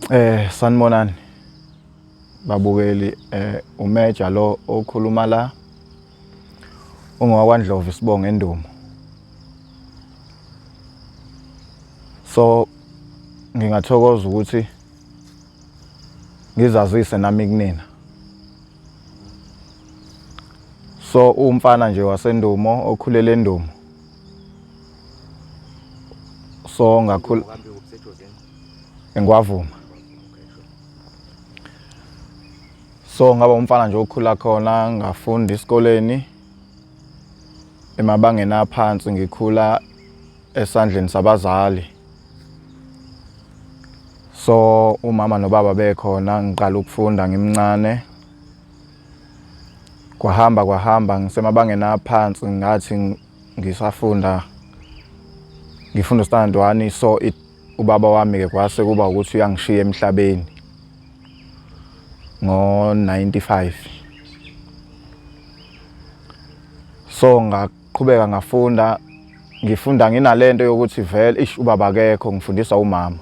Eh sanibonani babukeli eh umeja lo okhuluma la ungowakwaNdlovu isibongo endumo so ngingathokoza ukuthi ngizazise nami kunina so umfana nje wasendumo okhulele endumo so ngakhula engiwavuma so ngaba umfana nje okhula khona ngafunda isikoleni emabangeni aphansi ngikhula esandleni sabazali so umama nobaba bekhona ngiqala ukufunda ngimncane Kwahamba kwahamba ngisemabangeni aphansi ngathi ngisafunda ngifunda stand 1 so it ubaba wami ke kwase kuba ukuthi uyangishiya emhlabeni ngo 95 so ngak Qhubeka ngafunda ngifunda nginalento yokuthi vele ish ubaba akekho ngifundiswa umama.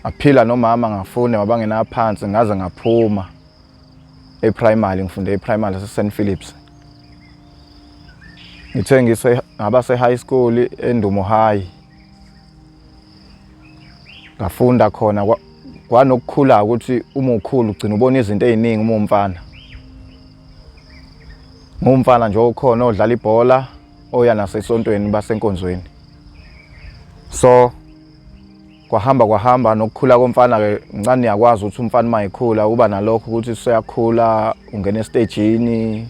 Aphila nomama ngafunda mabangena phansi ngaze ngaphuma eprimary ngifunde eprimary laseSt Philips. Ngithe ngise ngaba sehigh school eNdumo High. Ngafunda khona kwanokukhula ukuthi uma ukhulu ugcina ubona izinto eziningi uma umfana. ngumfana nje okhona odlala ibhola oya nasesontweni basenkonzweni so kwahamba kwahamba nokukhula komfana ke ngicane yakwazi ukuthi umfana uma ekhula uba nalokho ukuthi useyakhula ungena estejini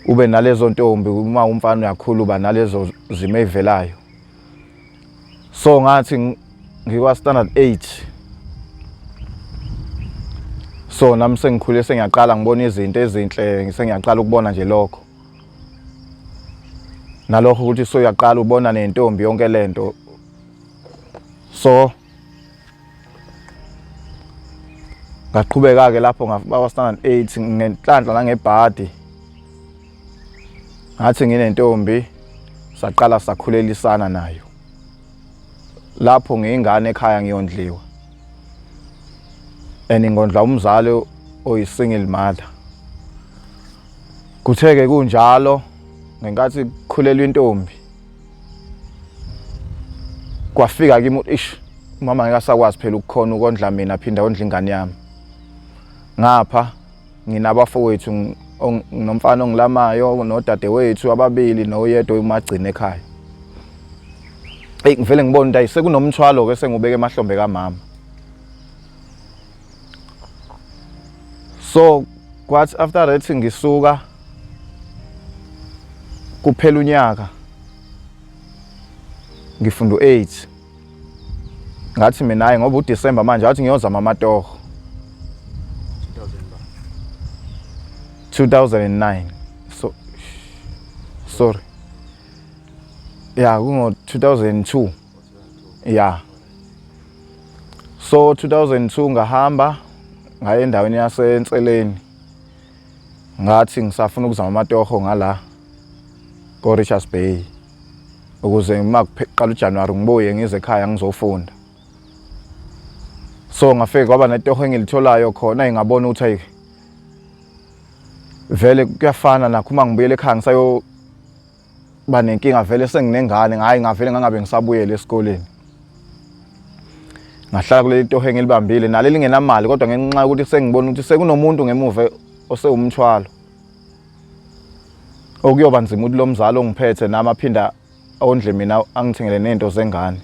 ube nalezo ntombi uma umfana uyakhula uba nalezo zimo ey'velayo so ngathi ngikwa standard 8 so nami sengikhule sengiyaqala ngibona izinto ezinhle ngisengiyaqala ukubona nje lokho nalokho ukuthi so uyaqala ubona nentombi yonke lento so ngaqhubeka ke lapho ngafika standard 8 ngenhlanhla nangebhadi ngathi nginentombi saqala sakhulelisana nayo lapho ngiyingane ekhaya ngiyondliwa and ngondla umzali oyisingle mother kutheke kunjalo ngenkathi kukhulelwa intombi kwafika kimi ish mama ngeke asakwazi phela ukukhona ukondla mina phinda ondla ingane yami ngapha nginabafowethu nginomfana ongilamayo nodadewethu ababili noyedwa oyimagcina ekhaya eyi ngivele ngibona ukuthi ayi sekunomthwalo-ke sengubeke emahlombe kamama so kwathi after that ngisuka kuphela unyaka ngifunda u-8 ngathi mina hayi ngoba uDecember manje ngathi ngiyozama amatoho 2009 so sorry ya kungo 2002 ya so 2002 ngahamba ngaye endaweni yasenseleni ngathi ngisafuna ukuzama amatoho ngala ko Richards Bay ukuze uma kuqala uJanuary ngibuye ngize ekhaya ngizofunda so ngafike kwaba netoho engilitholayo khona ingabona ukuthi ayi vele kuyafana nakho uma ngibuyele ekhaya ngisayo ba nenkinga vele senginengane ngayi ngavele ngangabe ngisabuyele esikoleni ngahlala kuleli toho engilibambile naleli ngenamali kodwa ngenxa yokuthi sengibona ukuthi sekunomuntu ngemuva osewumthwalo okuyoba nzima ukuthi lo mzali ongiphethe nami aphinda ondle mina angithengele nento zengane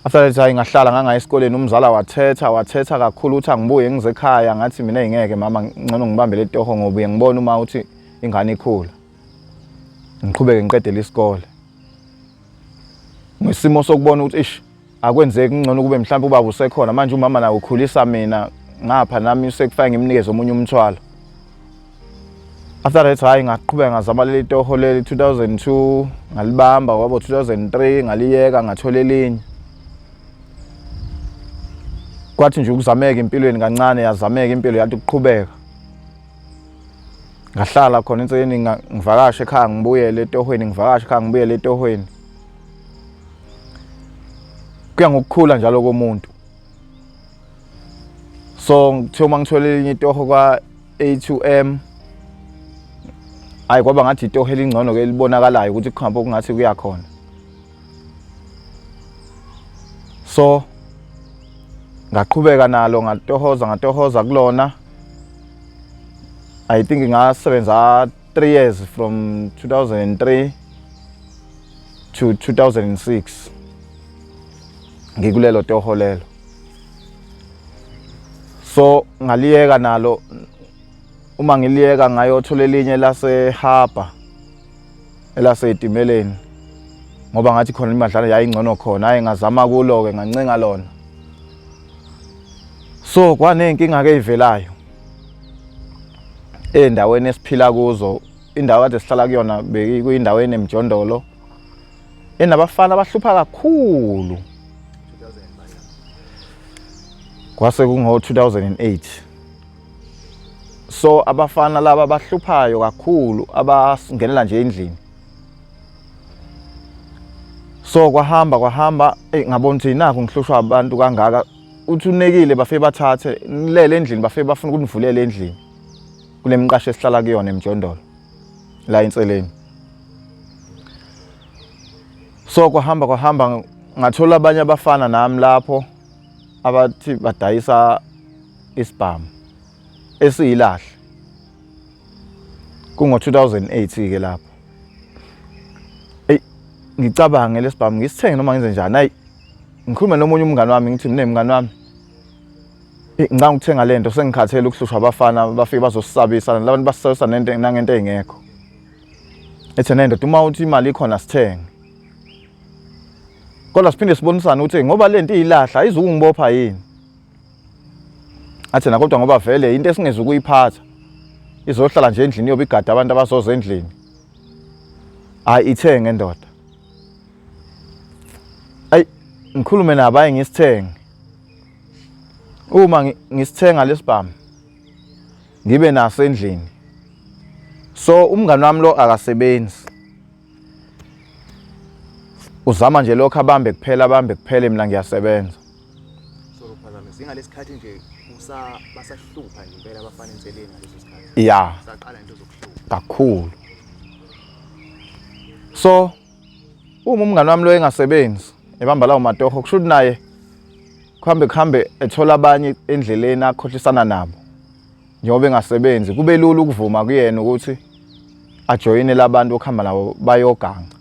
after that hayi ngahlala ngangaya esikoleni umzala wathetha wathetha kakhulu ukuthi angibuye ngize ekhaya ngathi mina ingeke mama ngcono ngibambele etoho ngobuye ngibone uma uthi ingane ikhula ngiqhubeke ngiqedele isikole ngesimo sokubona ukuthi ish akwenzeki ngcono ukube mhlawumbe ubaba usekhona manje umama naye ukhulisa mina ngapha nami usekufake ngimnikeze omunye umthwalo after that hayi ngaqhubeka ngazama leli toho leli 2002 ngalibamba kwabo 2003 ngaliyeka ngathola elinye kwathi nje ukuzameka empilweni kancane yazameka impilo yathi ukuqhubeka ngahlala khona inseni ngivakashe ekhaya ngibuyele etohweni ngivakashe ekhaya ngibuyele etohweni kuya ngokukhula njalo komuntu so ngithe uma ngithole elinye itoho kwa-a2m hayi kwaba ngathi itoho elingcono ke libonakalayo ukuthi kuhambe okungathi kuya khona so ngaqhubeka nalo ngatohoza ngatohoza kulona i think ngasebenza 3 years from 2003 to 2006 ngikulelo toho lelo so ngaliyeka nalo uma ngiliyeka ngayothola elinye lase harbor elase itimeleni ngoba ngathi khona imadlana yayingcono khona hayi ngazama kulo ke ngancenga lona so kwanenkinga ke ivelayo Endaweni esiphila kuzo indawo kade sihlala kuyona bekuyindawo enemjondolo enabafana abahlupha kakhulu kwase kungo-2008 so abafana laba abahluphayo kakhulu abangenela nje endlini so kwahamba kwahamba eyi ngabona ukuthi nakho ngihlushwa abantu kangaka uthi unekile bafe bathathe ngilele endlini bafe bafuna ukuthi ngivulele endlini kule mqasho esihlala kuyona emjondolo la inseleni so kwahamba kwahamba ngathola abanye abafana nami lapho abathi badayisa isibhamu esiyilahle kungo-2008 ke lapho eyi ngicabange lesibhamu ngisithenge noma ngenze njani ayi ngikhulume nomunye umngane wami ngithi mina mngane wami ngicanga ukuthenga le nto sengikhathele ukuhlushwa abafana bafike bazosisabisa labantu basisabisa nento nangento engekho ethe nento uma uthi imali ikhona sithenge kodwa siphinde sibonisane ukuthi ngoba le nto iyilahla ayizukungibopha yini athi nakodwa ngoba vele into esingeze ukuyiphatha izohlala nje endlini yobe igada abantu abazoza endlini hayi ithenge ndoda ayi ngikhulume nabo ayi ngisithenge uma ngisithenga lesibhamu ngibe naso endlini so umngani wami lo akasebenzi uzama nje lokho abambe kuphela abambe kuphele mina ngiyasebenza so phazama singalesikhathi nje usa basahlupha nje impela abafana enseleni ngaleso sikhathi ya saqala into zokuhlupha kakhulu so Uma umngani wami lo engasebenzi ebamba lawo matoho kusho ukuthi naye kuhambe kuhambe ethola abanye endleleni akhohlisana nabo njengoba engasebenzi kube lula ukuvuma kuyena ukuthi ajoyine labantu okuhamba nabo bayoganga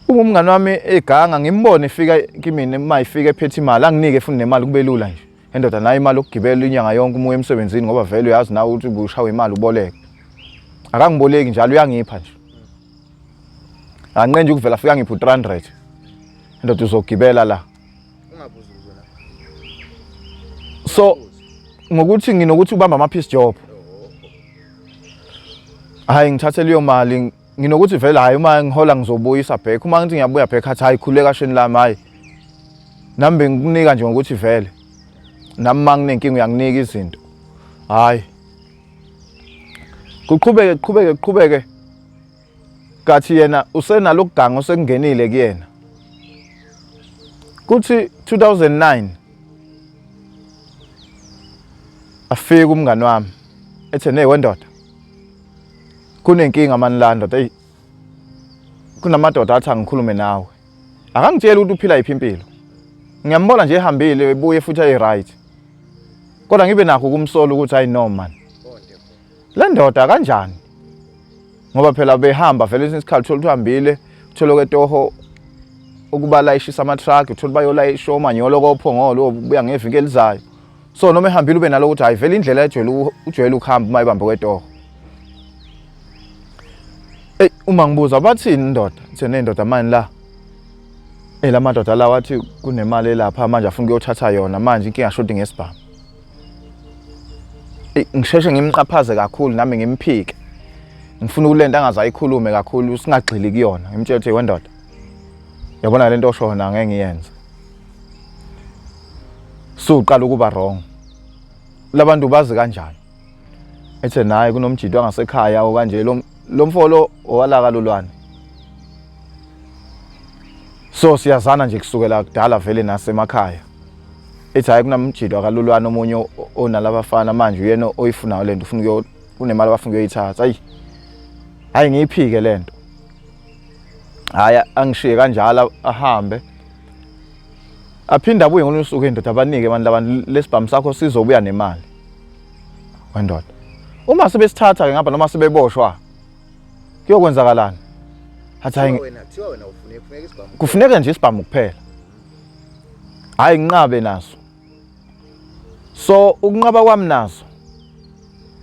uma umngani wami eganga ngimbone efika kimina uma ifika ephethe imali anginike futhi nemali kube lula nje Endoda nayo imali yokugibela inyanga yonke umuya emsebenzini ngoba vele uyazi nawe ukuthi bushawe imali uboleke. Akangiboleki njalo uyangipha nje. Anqenje ukuvela afika ngipha u300. Endoda uzogibela la. Ungabuza uzona. So ngokuthi nginokuthi ubamba ama piece job. Hayi ngithathe leyo mali nginokuthi vele hayi uma ngihola ngizobuyisa back uma ngithi ngiyabuya back athi hayi khuleka kasheni lami hayi nami bengikunika nje ngokuthi vele nami uma nginenkinga uyanginika izinto hayi kuqhubeke kuqhubeke kuqhubeke kathi yena usenalo kuganga osekungenile kuyena kuthi 2009 afika umngani wami ethe ne wendoda kunenkinga mani landot eyi kunamadoda athi angikhulume nawe akangitsheli ukuthi uphila yiphi impilo ngiyambona nje ehambile ebuye futhi ayi-right kodwa ngibe nakho ukumsola ukuthi hayi no mani le ndoda kanjani ngoba phela behamba vele esinye isikhathi uthole ukuthi uhambile uthole kwetoho ukuba layishisa amathraki uthole bayolayisha omanyolo kophongolo obuya ngeviki elizayo so noma ehambile ube nalo ukuthi hayi vele indlela ejwayele ujwayele ukuhamba uma ibambe kwetoho Ey uma ngibuza bathini indoda ngithe nendoda manje la Eh la madoda la wathi kunemali elapha manje afuna ukuyothatha yona manje inkinga shodi ngesibhamu Ey ngisheshe ngimqaphaze kakhulu nami ngimphike ngifuna ukulenta angazayikhulume kakhulu singagxili kuyona ngimtshela ukuthi wendoda yabona lento osho yona ngeke ngiyenze suqala ukuba wrong labantu bazi kanjani ethe naye kunomjidi wangasekhaya okanje lo mfolo owalaka lolwane so siyazana nje kusukela kudala vele nasemakhaya ethi hayi kunamjidi wakalulwane omunye onalabafana manje uyena oyifunayo lento ufuna kunemali abafuna ukuyoyithatha ayi hayi ngiyiphike lento hayi angishiye kanjalo ahambe aphinde abuye ngolunye usuku indoda abanike abantu labantu lesibhamu sakho sizobuya nemali wendoda uma sebesithatha ke ngapha noma sebeboshwa kuyokwenzakalani athi hayi kufuneka nje isibhamu kuphela hayi nginqabe naso so ukunqaba kwami naso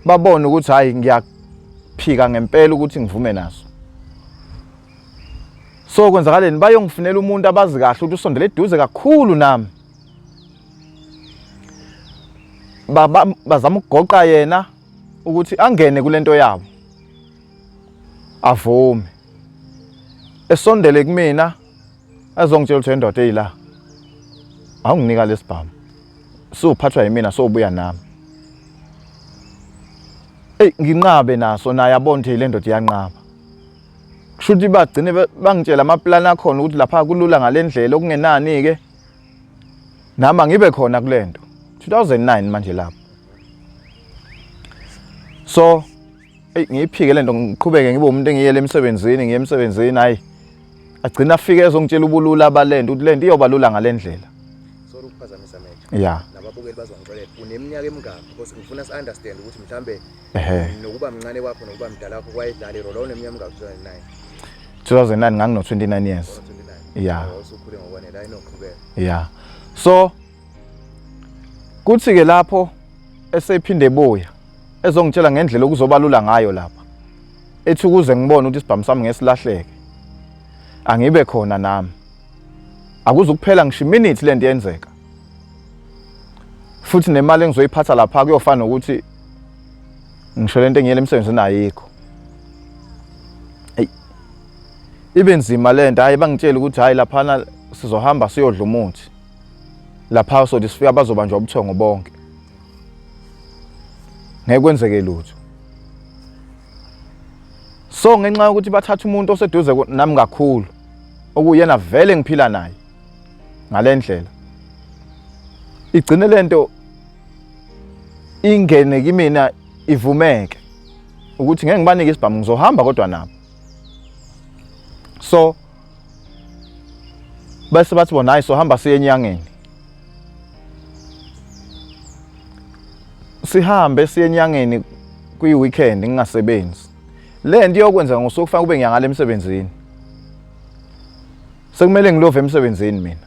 babone ukuthi hayi ngiyaphika ngempela ukuthi ngivume naso so kwenzakaleni bayongifunela umuntu abazi kahle ukuthi usondele eduze kakhulu nami baba bazama ukugoqa yena ukuthi angene kulento yabo avume esondele kumina azongitshela ukuthi indoda eyila awunginika lesibhamu sophathwa yimina sobuya nami Ey nginqabe naso naye abonde le ndoda iyanqaba kusho ukuthi bagcine bangitshela amaplani akhona ukuthi lapha kulula ngalendlela okungenani ke nama ngibe khona kulento 2009 manje lapho so eyi ngiyiphike lento ngiqhubeke ngibe umuntu engiyele emsebenzini ngiye emsebenzini hayi agcina afike ezongitshela ubulula balento ukuthi lento iyoba lula ngalendlela sorry ukuphazamisa manje ya nababukeli bazongixolela uneminyaka emingaki because ngifuna si understand ukuthi mhlambe Ehe. nokuba mncane kwakho nokuba mdala wakho kwayedlala irole wawuneminyaka mingaki 2009 2009 ngangino 29 years. 29 Yeah. wawusukhule ngokwanele hayi noqhubeka Yeah. So kuthi ke lapho esephinde ebuya ezongitshela ngendlela okuzobalula ngayo lapha. Ethi ukuze ngibone ukuthi isibhamu sami ngesilahleke. Angibe khona nami. Akuzukuphela ngisho iminute lento yenzeka. futhi nemali engizoyiphatha lapha kuyofana nokuthi ngisho lento engiyele emsebenzini ayikho ibe nzima le nto hhayi bangitshela ukuthi hhayi laphana sizohamba siyodla umuthi lapha sothi sifika bazobanjwa ubuthongo bonke ngeke kwenzeke lutho so ngenxa yokuthi bathatha umuntu oseduze nami kakhulu okuyena vele ngiphila naye ngalendlela igcine lento ingene kimina ivumeke ukuthi ngeke ngibanike isibhamu ngizohamba kodwa nabo so bese bathi bona hayi sohamba siye enyangeni sihambe siye enyangeni kwi-weekend ngingasebenzi le nto iyokwenza ngosuku kufanele kube ngiyangala emsebenzini Sekumele ngilove emsebenzini mina.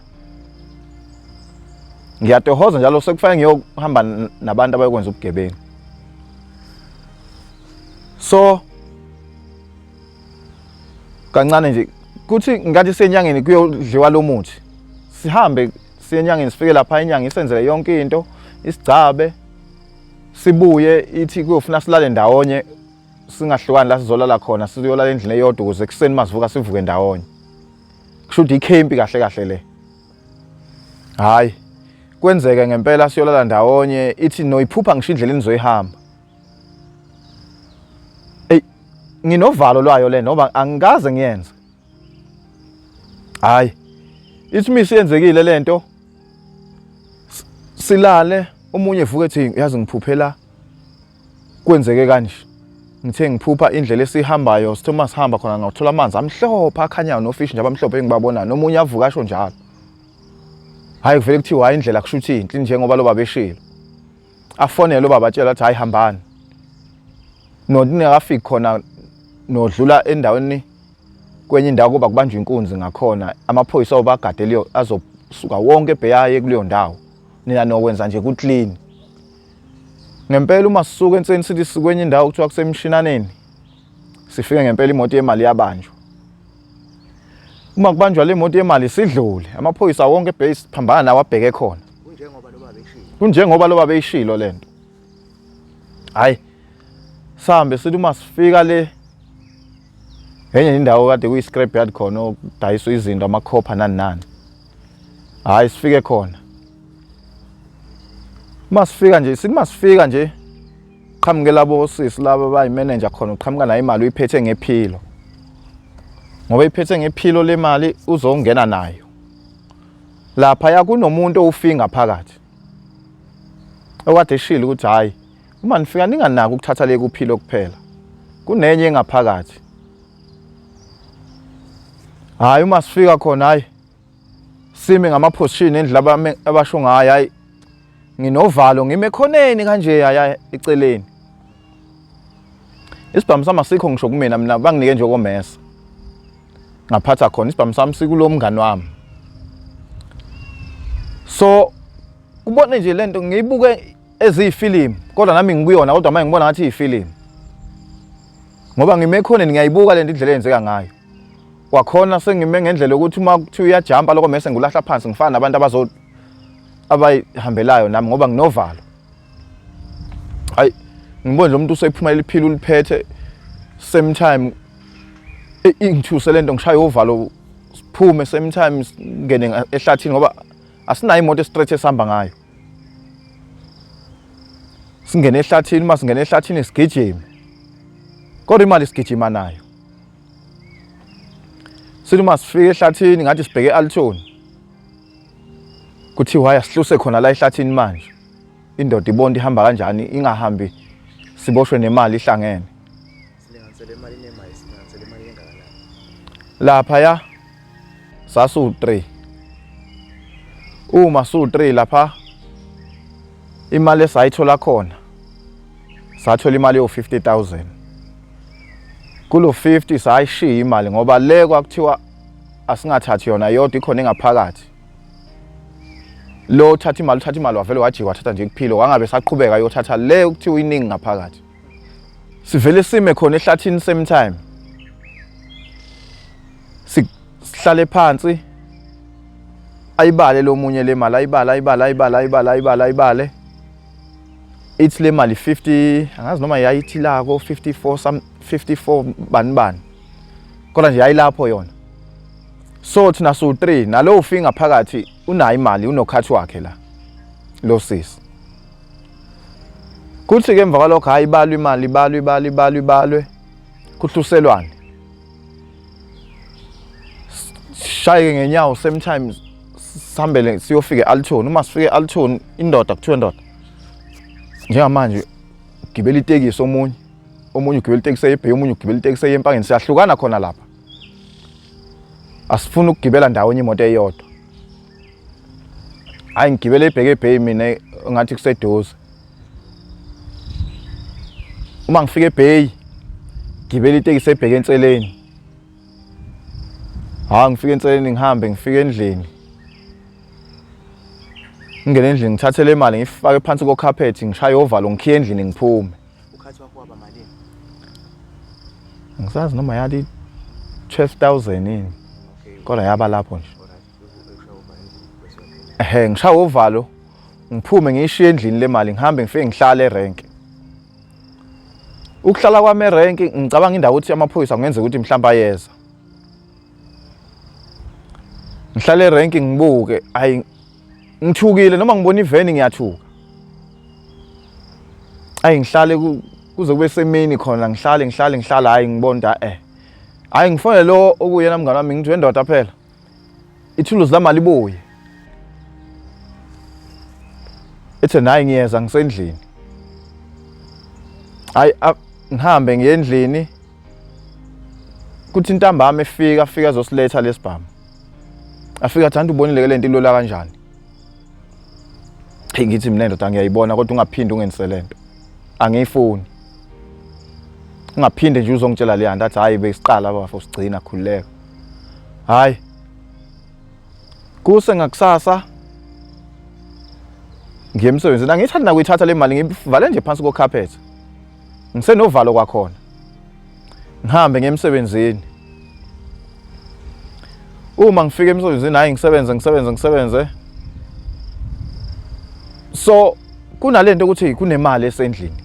Ngiyatohoza njalo sekufanele ngiyohamba nabantu abayokwenza ubugebengu. So kancane nje kuthi ngathi senyangeni kuyodliwa lo muthi sihambe siye enyangeni sifike lapha inyanga isenzele yonke into isigcabe sibuye ithi kuyofuna silale ndawonye singahlukani la sizolala khona sizolala endlini eyodwa ukuze ekuseni masivuka sivuke ndawonye kusho ukuthi ikhempi kahle kahle le hayi kwenzeke ngempela siyolala ndawonye ithi noyiphupha ngisho indlela enizoyihamba ey nginovalo lwayo le noma angikaze ngiyenze hayi ithi misi yenzekile lento silale omunye evuka ethi yazi ngiphuphela kwenzeke kanje ngithe ngiphupha indlela esihambayo sithe uma sihamba khona ngawuthola amanzi amhlophe akhanyayo nofishi nje abamhlophe engibabonayo nomunye avuka asho njalo hhayi kuvele kuthiwa hhayi indlela kusho ukuthi inhle njengoba lo baba eshilo afonele lo baba atshela athi hhayi hambani ningakafiki khona nodlula endaweni kwenye indawo kuba kubanjwa inkunzi ngakhona amaphoyisa obagadeliyo azosuka wonke ebheyaye kuleyo ndawo nina nokwenza nje kuclean Ngempela uma sisuka enseni sithi sikwenye indawo kuthiwa kusemshinaneni sifike ngempela imoto yemali yabanjwa. Uma kubanjwa le moto yemali sidlule amaphoyisa wonke base phambana nawo abheke khona. Kunjengoba loba beyishilo. Kunjengoba loba beyishilo lento. Hayi sihambe sithi uma sifika le enye indawo kade kuyi scrap yard khona okudayiswa izinto amakhopha nani nani. hayi sifike khona uma sifika nje sithi uma sifika nje qhamuke labo osisi laba bayi-manager khona uqhamuka nayo imali uyiphethe ngephilo ngoba iphethe ngephilo le mali uzongena nayo laphaya kunomuntu owufinga phakathi okade eshile ukuthi hhayi Uma nifika ninganaki ukuthatha le kuphilo kuphela. Kunenye engaphakathi. Hayi uma sifika khona hayi sime ngamaphosishini endlela abame abasho ngayo hayi nginovalo ngime khoneni kanje yaya eceleni isibhamu sami asikho ngisho kumina mina banginike nje okomesa ngaphatha khona isibhamu sami sikulo mngani wami so ubone nje lento ngiyibuke eziyifilimu kodwa nami ngikuyona kodwa manje ngibona ngathi iyifilimu ngoba ngime ekhoneni ngiyayibuka lento indlela eyenzeka ngayo kwakhona sengime ngendlela yokuthi uma kuthiwa uyajampa lokho mese ngulahla phansi ngifana nabantu abazo abayihambelayo nami ngoba nginovalo hayi ngibona nje umuntu usephuma eliphila uliphethe same time ingithuse lento ngishaya uvalo siphume same time ngene ehlathini ngoba asinayo imoto estraight esihamba ngayo singene ehlathini uma singene ehlathini sigijime kodwa imali sigijima nayo sithi uma sifike ehlathini ngathi sibheke althoni kuthiwa haya sihluse khona la ehlathini manje indoda ibonta ihamba kanjani ingahambi siboshwe nemali ihlangene Silinganisele imali nemayi, silinganisele imali engakanani? Lapha ya sasiwu-3. Uma siwu-3 lapha imali esayithola khona sathola imali yo-50000 kulo 50 sayishiya imali ngoba le kwakuthiwa asingathathi yona yodwa ikhona engaphakathi lo uthatha imali uthatha imali wavele wajika wathatha nje kuphilo wangabe saqhubeka yothatha le okuthiwa iningi ngaphakathi sivele sime khona ehlathini same time sihlale phansi ayibale lo munye le mali ayibale ayibale ayibale ayibale ayibale ayibale ithi le mali 50 angazi noma yayithi la ko 54 some 54 bani bani kodwa nje yayilapho yona so thina so 3 nalowo finga phakathi unayo imali unokhathi wakhe la lo sisi kuthi-ke emva kwalokho hhayi ibalwe imali ibalwe ibalwe ibalwe ibalwe kuhluselwane shayeke ngenyawo same time sihambele siyofika e-altoni uma sifike e-altoni indoda kuthiwe ndoda njengamanje gibela itekisi omunye omunye ugibela itekisi eyebheki omunye ugibela itekisi eyempangeni siyahlukana khona lapha asifuni ukugibela ndawonye imoto eyodwa hayi ngigibele ibheke ebheyi mina ngathi kuseduze uma ngifika ebheyi ngigibele itekisi ebheke enseleni hayi ngifike enseleni ngihambe ngifike endlini ngingene endlini ngithathe le mali ngifake phansi kokhaphethi ngishaye ovalo ngikhiye endlini ngiphume ukhathi wakho waba malini ngisazi noma yali 12000 yini kodwa yaba lapho nje ehe ngishawa uvalo ngiphume ngiyishiye endlini le mali ngihambe ngifike ngihlale erenke ukuhlala kwami erenke ngicabanga indawo ukuthi amaphoyisa kungenza ukuthi mhlawumbe ayeza ngihlale erenke ngibuke ayi ngithukile noma ngibona iveni ngiyathuka ayi ngihlale kuze kube semini khona ngihlale ngihlale ngihlale hayi ngibonda eh hayi ngifonele lo okuyena mngane wami ngithi wendoda phela ithuluzi lami alibuye ethe nayi ngiyeza ngisendlini hayi ngihambe ngiye endlini kuthi intambama efika afika azosiletha lesibhamu afika athi ubonile ke lento ilola kanjani hey ngithi mina ndoda ngiyayibona kodwa ungaphindi ungenise lento angiyifuni ungaphinde nje uzongitshela leya nto athi hhayi besiqala bafo sigcina khululeka hhayi kuse ngakusasa ngiye emsebenzini angiyithathi nakuyithatha le mali ngivale nje phansi kokhaphetha ngisenovalo kwakhona ngihambe ngiye emsebenzini uma ngifika emsebenzini hayi ngisebenze ngisebenze ngisebenze so kunalento ukuthi kunemali esendlini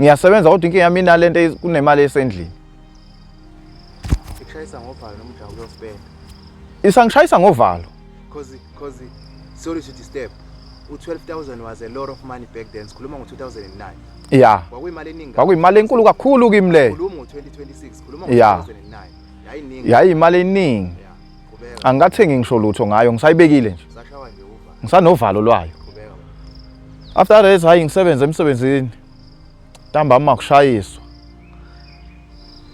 ngiyasebenza kodwa inkinga yami inalento kunemali esendlini ikushayisa ngovalo noma ujawu kuyosibeka isangishayisa ngovalo cause cause sorry to disturb u12000 was a lot of money back then sikhuluma ngo2009 yeah kwakuyimali eningi kwakuyimali enkulu kakhulu kimi leyo khuluma ngo2026 ya yayiyimali eningi angikathengi ngisho lutho ngayo ngisayibekile nje ngisanovalo lwayo after that hayi ngisebenze emsebenzini ntambama makushayiswa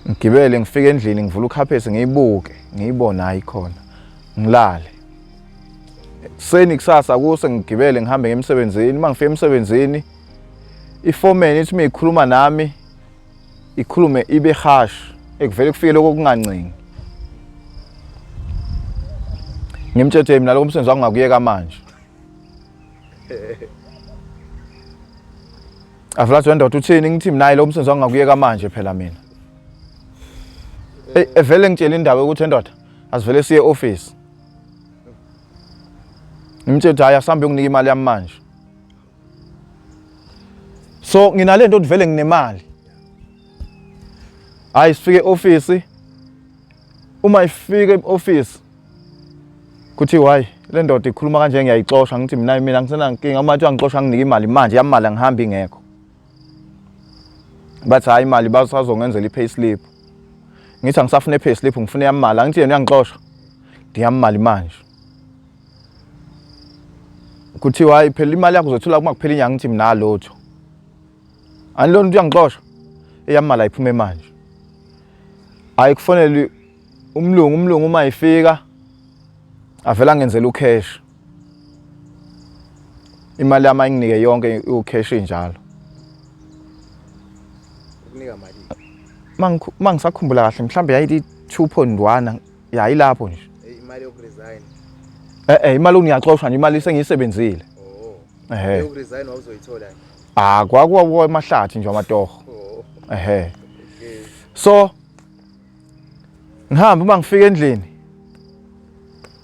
ngigibele ngifike endlini ngivula ukhaphesi ngiyibuke ngiyibone hayi khona ngilale seni kusasa kuse ngigibele ngihambe ngemsebenzini uma ngifika emsebenzini ifomeni ithi miyikhuluma nami ikhulume ibe harsh ekuvele kufike lokho kungancengi ngimtshetshe mina lokho umsebenzi wakho ngakuyeka manje avulathi wendoda uthini ngithi mina lo msebenzi wakho ngakuyeka manje phela mina eyi evele ngitshela indawo yokuthi endoda asivele siye office ngimtshela ukuthi hhayi asambe unginika imali yami manje so nginalento ukuthi vele nginemali hayi sifike office uma ifike eoffice kuthi why le ndoda ikhuluma kanje ngiyayixosha ngithi mina mina ngisena nkinga uma kuthiwa ngixosha nginike imali manje yamali angihambi ingekho bathi hayi imali basazongenzela i-pay slip ngithi angisafune i-pay slip ngifune yamali angithi yena uyangixosha ndiyamali manje kuthiwa hayi phela imali yakho uzothula uma kuphela inyanga ngithi mina lutho ani lona uyangixosha eyamala iphume manje hayi kufanele umlungu umlungu uma ifika avela ngenzela ucash imali yami ayinginike yonke ucash injalo ukunika mali mangisakhumbula kahle mhlambe yayithi 2.1 ya ilapho nje Eh, imali yokuresign eh eh imali ngiyaxoshwa nje imali sengiyisebenzile oh ehe yokuresign wawuzoyithola nje ah kwakuwa kuwa emahlathi nje amatoho oh ehe okay so ngihamba uma ngifika endlini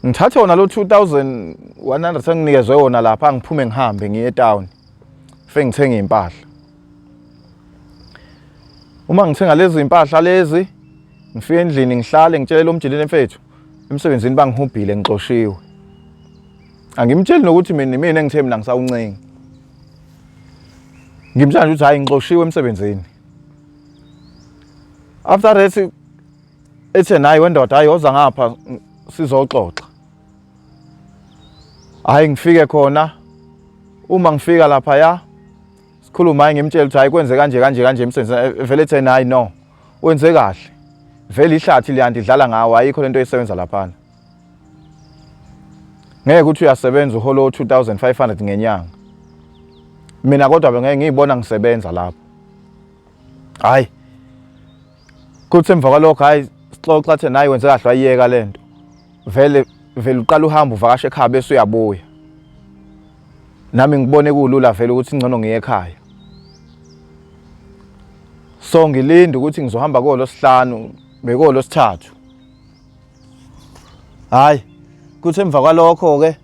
ngithathe wona lo 2100 enginikezwe wona lapha ngiphume ngihambe ngiye etown fengithenge impahla Uma ngithenga lezi impahla lezi ngifike endlini ngihlale ngitshele lo mjilini mfethu emsebenzini bangihubhile ngixoshiwe. Angimtsheli nokuthi mina mina engithe mina ngisawuncengi. Ngimtshela nje ukuthi hayi ngixoshiwe emsebenzini. After that ethe naye wendoda hayi oza ngapha sizoxoxa. Hayi ngifike khona uma ngifika lapha ya sikhuluma hayi ngimtshela ukuthi hayi kwenze kanje kanje kanje emsebenzini eh, vele ethi hayi no wenze kahle vele ihlathi liyanti idlala ngawo ayikho lento esebenza laphana ngeke ukuthi uyasebenza uholo 2500 ngenyanga mina kodwa bengeke ngiyibona ngisebenza lapho hayi kuthi emva kwalokho hayi sixoxa athi nayi wenze kahle wayiyeka le nto vele vele uqala uhamba uvakashe ekhaya bese uyabuya nami ngibone kulula vele ukuthi ngcono ngiye ekhaya so ngilinde ukuthi ngizohamba kolo sihlanu bekolo sithathu hayi kuthi emva kwalokho ke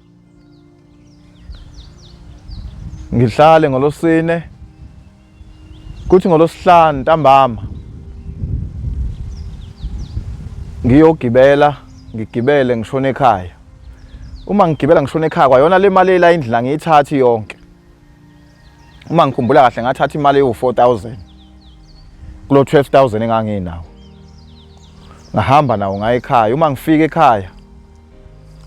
ngihlale ngolosine kuthi ngolosihlanu ntambama ngiyogibela ngigibele ngishone ekhaya uma ngigibela ngishone ekhaya kwayona le mali elayindlela ngiyithathi yonke uma ngikhumbula kahle ngathatha imali ewu-4000 kulo 12000 enganginawo ngahamba nawo ngaye ekhaya uma ngifika ekhaya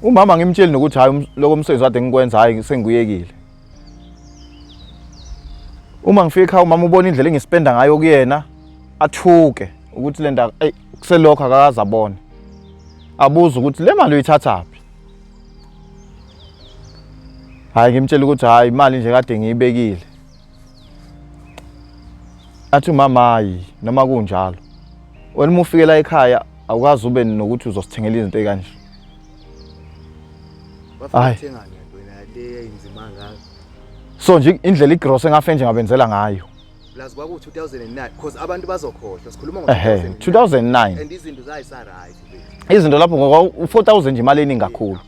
umama ngimtsheli nokuthi hayi um, lokho msebenzi kade ngikwenza hayi sengiyekile uma ngifika ekhaya umama ubona indlela engispenda ngayo kuyena athuke ukuthi lento ayi kuselokho akakaze abone abuze ukuthi le mali uyithathaphi hayi ngimtshela ukuthi hayi imali nje kade ngiyibekile athi umama hayi noma kunjalo wena uma ufikela ekhaya awukazi ube nokuthi uzosithengela izinto ekanje hayi so nje indlela igross engafe nje ngabenzela ngayo plus kwaku 2009 because abantu bazokhohlwa sikhuluma ngo 2009 and izinto zayisa right izinto lapho ngoba 4000 nje imali eningi kakhulu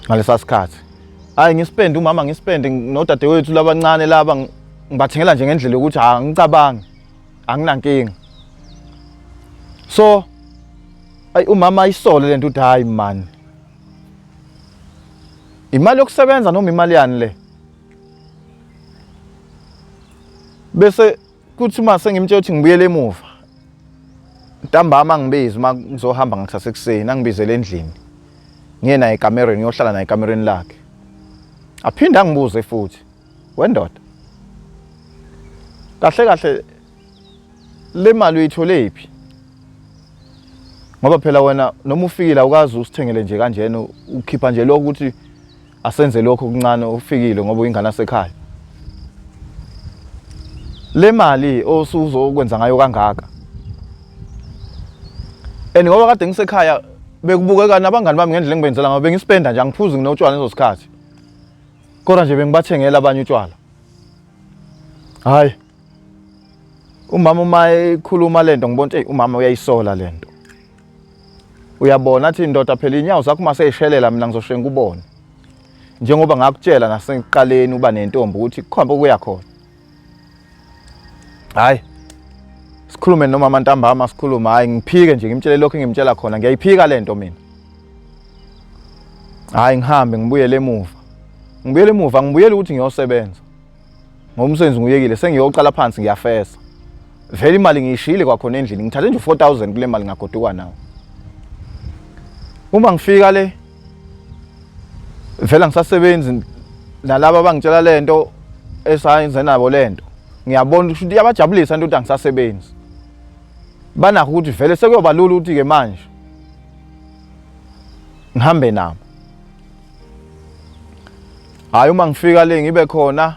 ngalesa sikhathi hayi ngisipende umama ngisipende nodadewethu labancane laba ngibathengela nje ngendlela yokuthi ha ngicabangi anginankinga so ayi umama ayisole lento uthi hayi man imali yokusebenza noma imali yani le bese kuthi uma sengimtshela ukuthi ngibuyele emuva ntambama angibizi uma ngizohamba ngakusasa ekuseni angibizele endlini ngiye naye ekamereni ngiyohlala naye ekamereni lakhe aphinde angibuze futhi wendoda kahle kahle le mali uyithole phi ngoba phela wena noma ufikile awukazi usithengele nje kanjena ukhipha nje lokho ukuthi asenze lokho kuncane ufikile ngoba uyingane asekhaya le mali osuzokwenza ngayo kangaka and ngoba kade ngisekhaya bekubukeka nabangani bami ngendlela engibenzela ngayo bengispenda nje angiphuzi nginotshwala lezo sikhathi kodwa nje bengibathengela abanye utshwala hayi umama uma ekhuluma lento ngibona ukuthi umama uyayisola lento uyabona athi ndoda phela inyawo zakho uma seyishelela mina ngizoshiye ngikubone njengoba ngakutshela nasekuqaleni uba nentombi ukuthi kukhombe ukuya khona hayi sikhulume noma amantambama sikhuluma hayi ngiphike nje ngimtshele lokho engimtshela khona ngiyayiphika le nto mina hayi ngihambe ngibuyele emuva ngibuyele emuva ngibuyele ukuthi ngiyosebenza ngoba umsebenzi nguyekile sengiyoqala phansi ngiyafesa vele imali ngiyishiyile kwakhona endlini ngithathe nje 4000 kule mali ngagoduka nawo uma ngifika le vele ngisasebenzi nalabo abangitshela lento esayenze nabo lento ngiyabona ukuthi iyabajabulisa into ukuthi angisasebenzi banakho ukuthi vele sekuyoba lula ukuthi ke manje ngihambe nabo hayi uma ngifika le ngibe khona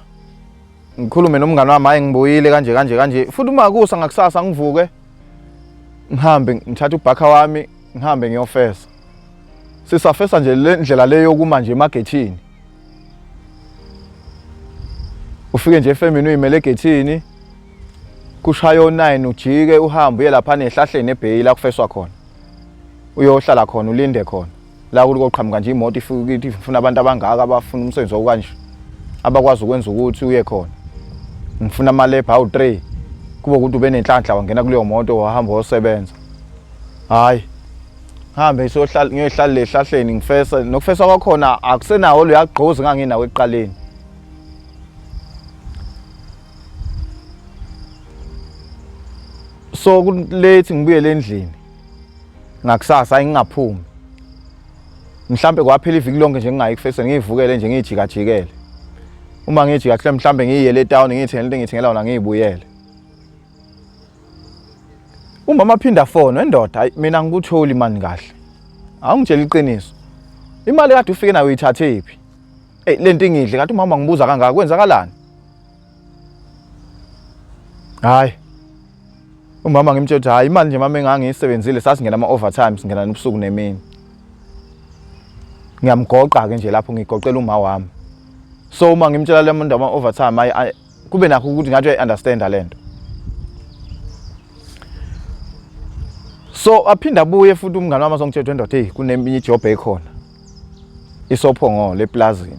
ngikhulume nomngane wami hayi ngibuyile kanje kanje kanje futhi uma kusa ngakusasa ngivuke ngihambe ngithathe ubhakha wami ngihambe ngiyofesa sisafesa nje le ndlela le yokuma nje emagethini ufike nje efemini uyimele egethini kushaya o-9 ujike uhambe uye lapha nehlahleni ebheyi la kufeswa khona uyohlala khona ulinde khona la kuliko qhamuka nje imoto ifike ithi ngifuna abantu abangaka abafuna umsebenzi okanje abakwazi ukwenza ukuthi uye khona ngifuna amalebha awu-3 kube ukuthi ube nenhlanhla wangena kuleyo moto wahamba wosebenza hhayi hambe ngiyohlala lehlahleni ngifesa nokufesa kwakhona akusenawo luyagqozi nganginawo ekuqaleni so kulethi ngibuyele endlini ngakusasa ayingaphumi mhlambe kwaphela iviki lonke nje ngingayi kufeseni ngiyivukele nje ngiyijikajikele uma ngijika kuhle mhlambe ngiyiyele etown ngiyithengele into engiyithengela wona ngiyibuyele umama aphinda fona endoda hayi mina ngikutholi mani kahle awungitshela iqiniso imali kade ufike nayo uyithathephi hey lento ingidle kanti umama ngibuza kangaka kwenzakalani hayi umama ngimtshela ukuthi hayi imali nje mama engangiyisebenzile sasingena ama-overtime singena nobusuku nemini ngiyamgoqa-ke nje lapho ngigoqela uma wami so uma ngimtshela le muntu ama-overtime ayi kube nakho ukuthi ngathi uyayi-understanda le nto so aphinde abuye futhi umngane wami azongitshela ukuthi wendoda eyi kuneminye ijobho ekhona isophongolo eplazini